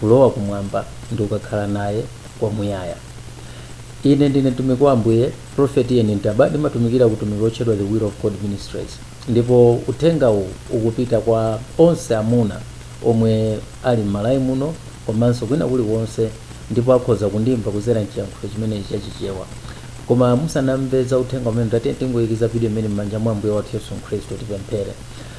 kulowa Kumwamba ndi kukakhala Naye Kwamuyaya. Ine ndine mtumiki wa Ambuye, Prophet Ian Ntaba, ndimatumikira ku utumiki wotchedwa The Will of God Ministries. Ndipo uthenga uwu ukupita kwa onse amuna omwe ali m'Malawi muno komanso kwina kulikonse ndipo akhoza kundimva kudzera m'chiyankhulo chimenechi cha Chichewa. Koma musanamve za uthenga umenewu, tatiyeni tingoikiza video imeneyi m'manja mwa Ambuye wathu Yesu Khristu tipemphere.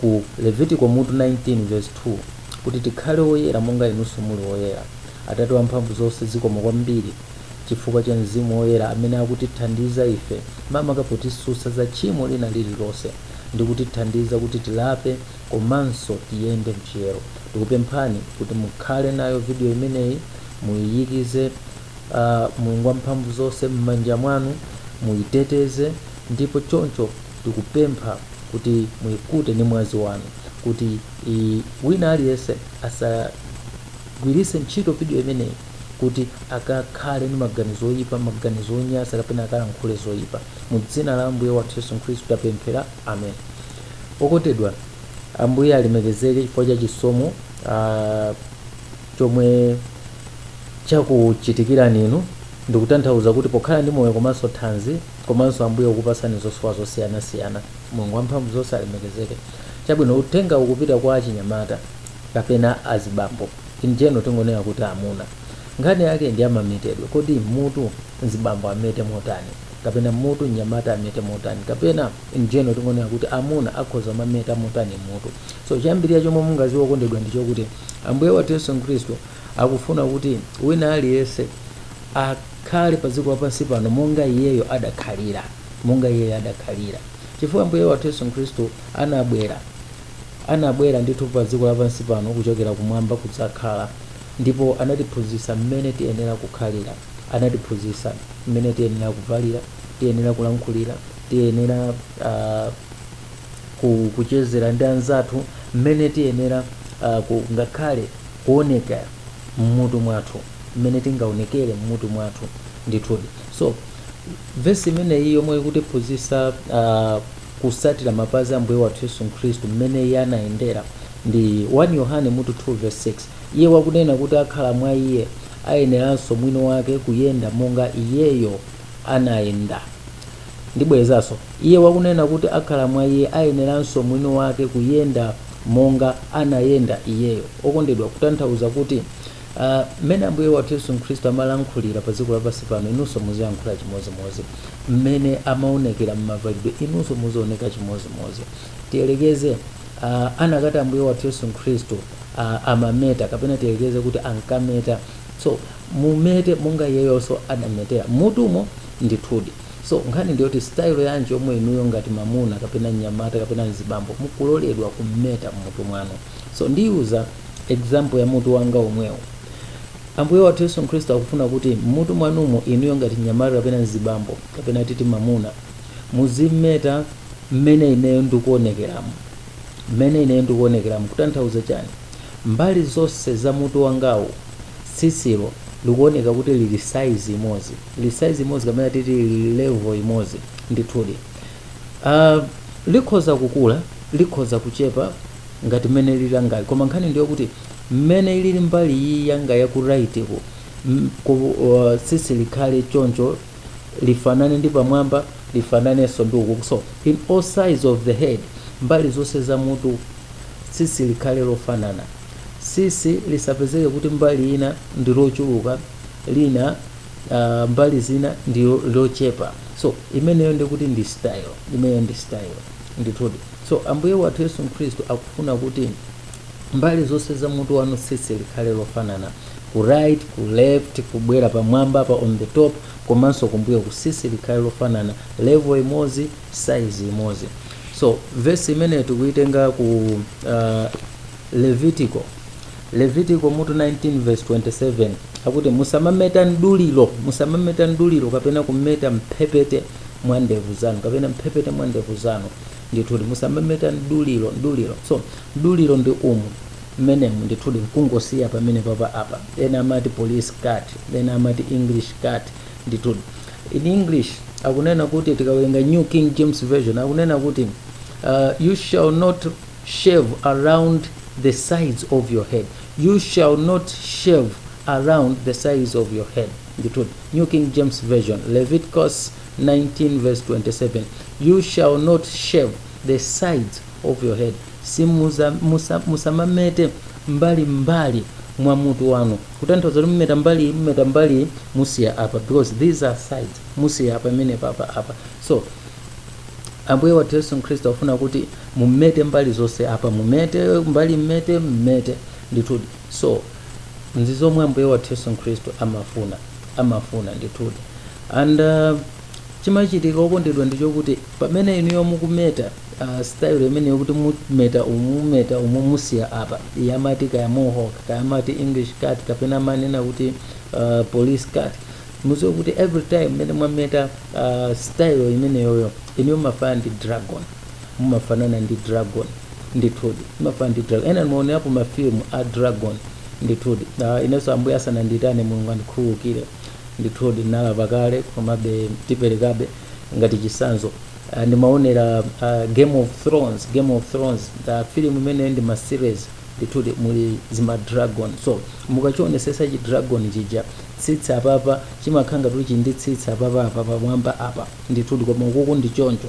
ku Levitiko mutu 19 vesi 2 kuti tikhale oyera monga inunso muli oyera. Atate wamphamvu zonse, zikomo kwambiri chifukwa cha mzimu woyera amene akutithandiza ife makamaka potisutsa za tchimo lina lililonse ndi kutithandiza kuti tilape komanso tiyende m'chiyero. Tikupemphani kuti mukhale nayo vidiyo imeneyi, muiyikize Mulungu wamphamvu zonse m'manja mwanu, muiteteze ndipo choncho. Ndikupempha kuti muikute ndi mwazi wanu kuti i, wina aliyense asagwiritse ntchito video imeneyi kuti akakhale ndi maganizo oipa, maganizo onyasa kapena akalankhule zoipa. Mu dzina la Ambuye wathu Yesu Khristu tapemphera. Amen. Okondedwa, Ambuye alemekezeke chifukwa cha chisomo ah, chomwe chakuchitikirani inu. Ndikutanthauza kuti pokhala ndi moyo komanso thanzi komanso Ambuye kukupatsani zosowa zosiyanasiyana. Mulungu Wamphamvuzonse alemekezeke. Chabwino, uthengawu ukupita kwa achinyamata kapena azibambo. In general tingonena kuti amuna. Nkhani yake ndi ya mametedwe. Kodi m'mutu mzibambo amete motani? Kapena m'mutu mnyamata amete motani? Kapena in general tingonena kuti amuna akhoza kumameta motani m'mutu? So choyambirira chomwe mungadziwe okondedwa ndi chokuti Ambuye wathu Yesu Khristu akufuna kuti wina aliyense a. Khale pa dziko lapansi pano monga Iyeyo adakhalira, monga Iyeyo adakhalira. Chifukwa Ambuye wathu Yesu Khristu anabwera, anabwera ndithu pa dziko lapansi pano kuchokera kumwamba kudzakhala, ndipo anatiphunzitsa mmene tiyenera kukhalira, anatiphunzitsa mmene tiyenera kuvalira, tiyenera kulankhulira, tiyenera ah, ku, kuchezera ndi anzathu, mmene tiyenera ah, ku, ngakhale kuonekera m'mutu mwathu. mmene tingaonekere mmutu mwathu ndithudi so vesi imeneyi yomwe ikutiphunzitsa uh, kusatira mapazi a ambuye wathu yesu khristu mmene iye anayendera ndi 1 yohane mutu 2 verse 6 iye wakunena kuti akhala mwa iye ayeneranso mwini wake kuyenda monga iyeyo anayenda ndibwerezanso iye wakunena kuti akhala mwa iye ayeneranso mwini wake kuyenda monga anayenda iyeyo okondedwa kutanthauza kuti a Mmene Ambuye wathu Yesu Khristu amalankhulira padziko lapansi pano, inunso muziyankhula chimodzimodzi. Mmene amaonekera m'mavalidwe, inunso muzioneka chimodzimodzi. Tiyerekeze a anakati Ambuye wathu Yesu Khristu a amameta kapena tiyerekeze kuti ankameta. So mumete monga iyeyonso adametera m'mutumo ndithudi. So nkhani ndi yoti sitayilo yanji yomwe inuyo ngati mwamuna kapena mnyamata kapena mzibambo mukuloledwa kumeta m'mutu mwanu. So ndiyuza. example ya mutu wanga womwewo ambuye wathu yesu khristu akufuna kuti m'mutu mwanumo inuyo ngati mnyamata kapena mzibambo kapena titi mamuna muzimeta mmene ineyo ndikuonekeramo mmene ineyo ndikuonekeramo kutanthauza chani mbali zonse za mutu wangawo tsitsilo likuoneka kuti lili size imodzi lili size imodzi kapena titi lili level imodzi ndithudi uh, likhoza kukula likhoza kuchepa ngati mmene lililangali koma nkhani ndiyokuti mmene ilili mbali iyi yanga ya ku right ku m- ku uh, tsitsi likhale choncho lifanane ndi pamwamba lifananenso ndi uku so in all sides of the head mbali zonse za mutu tsitsi likhale lofanana tsitsi lisapezeke kuti mbali ina ndi lochuluka lina uh, mbali zina ndi lo- lochepa so imeneyo ndikuti ndi style imeneyo ndi style Ndithudi. So, Ambuye wathu Yesu Khristu akufuna kuti mbali zonse za mutu wanu tsitsi likhale lofanana. Ku right, ku left, kubwera pamwamba pa on the top komanso kumbuyoku tsitsi likhale lofanana, level imodzi, size imodzi. So, verse imeneyo tikuyitenga ku uh, Levitiko Levitiko mutu 19 verse 27 akuti musamameta mduliro musamameta mduliro kapena kumeta mphepete mwa ndevu zanu kapena mphepete mwa ndevu zanu ndithudi musamameta mduliro mduliro so mduliro ndi umu mmenemo ndithudi nkungosiya pamene papa apa ena amati police cut ena amati english cut ndithudi in english akunena kuti tikawerenga new king james version akunena kuti uh, you shall not shave around the sides of your head you shall not shave around the sides of your head ndithudi new king james version leviticus 19 verse 27 you shall not shave the sides of your head simuza musa, musamamete mbali mbali mwa mutu wanu kutanthauza kuti mumeta mbali mumeta mbali musiya apa because these are sides musiya apa pamene papa apa so ambuye wathu yesu khristu afuna kuti mumete mbali zonse apa mumete mbali mmete mmete ndithudi So, izi ndi zomwe Ambuye wathu Yesu Khristu amafuna, amafuna ndithudi. And uh, chimachitika okondedwa ndi chokuti pamene inuyo mukumeta uh, style imeneyo kuti mumeta umu mumeta umu musiya apa amati kaya mohawk kaya amati english cut kapena amanena kuti uh, police cut mudziwe kuti every time mmene mwameta uh, style imeneyoyo inuyo mumafanana ndi dragon mumafanana ndi dragon ndithudi mumafanana ndi dragon enanu mwaonerapo mafilimu a dragon ndithudi Ah, inenso ambuye asanandiyitane mulungu andikhululukire ndithudi ndinalapa kale komabe tiperekebe ngati chitsanzo Ah, ndimaonera ah, game of thrones game of thrones ah, filimu imeneyo ndi ma series ndithudi muli zima dragon so mukachionetsetsa chi dragon chija tsitsi apapa chimakhala ngati chili ndi tsitsi apapa apa pamwamba apa ndithudi koma ukuku ndi choncho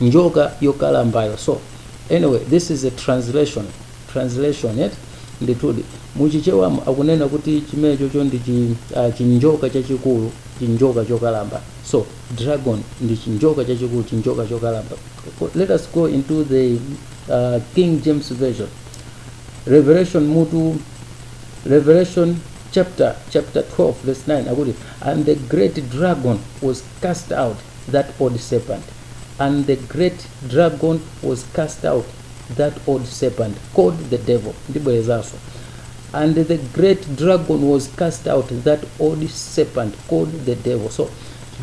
njoka yokalambayo so anyway this is a translation translation yake ndithudi muchichewamu akunena kuti chimenechocho ndi chi, uh, chinjoka chachikulu chinjoka chokalamba so dragon ndi chinjoka chachikulu chinjoka chokalamba let us go into the uh, king james version revelation mutu revelation chapter chapter 12 verse 9 akuti and the great dragon was cast out that old serpent, and the great dragon was cast out, that old serpent called the devil, ndibwerezanso, and the great dragon was cast out, that old serpent called the devil. So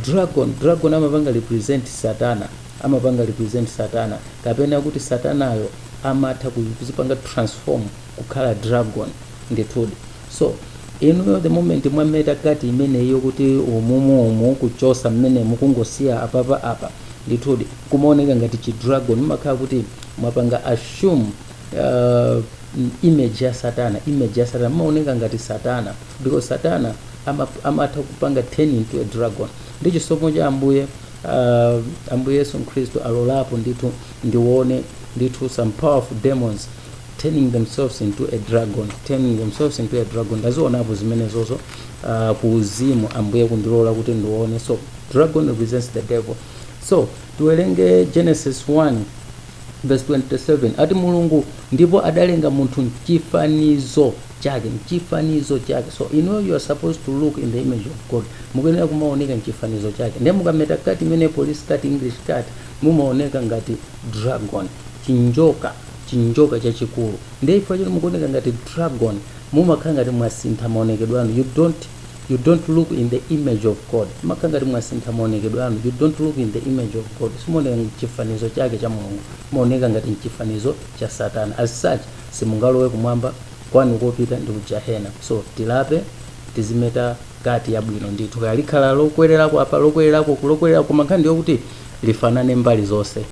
dragon, dragon amapanga represent Satana, amapanga represent Satana, kapena kuti Satanayo amatha kudzipanga transform kukhala dragon ndithudi. So inuyo the moment mwameta cut imeneyi yokuti umumu umu kuchotsa mmenemu kungosiya apapa apa ndithudi kumaoneka ngati chi dragon mumakhala kuti mwapanga assume uh, image ya satana image ya satana mumaoneka ngati satana because satana ama- amatha kupanga turn into a dragon ndi chisomo cha ambuye uh, ambuye yesu khristu alolapo ndithu ndione ndithu some powerful demons turning themselves into a dragon turning themselves into a dragon ndazionapo zimenezozo uh, ku uzimu ambuye kundilola kuti ndione so dragon represents the devil so tiwerenge genesis 1 verse 27 ati mulungu ndipo adalenga munthu mchifanizo chake mchifanizo chake so you know you are supposed to look in the image of god mukuyenera kumaoneka mchifanizo chake ndiye mukameta cut imene police cut english cut mumaoneka ngati dragon chinjoka chinjoka chachikulu ndiye chifukwa choti mukuoneka ngati dragon mumakhala ngati mwasintha maonekedwe anu you don't you don't look in the image of god mumakhala ngati mwasintha maonekedwe anu you don't look in the image of god simuoneka mchifanizo chake cha mulungu mumaoneka ngati mchifanizo cha satana as such simungalowe kumwamba kwanu kopita ndi kujahena so tilape tizimeta kati yabwino ndithu kaya likhala lokwererako apa lokwererako kulokwererako koma nkhani ndiyokuti lifanane mbali zonse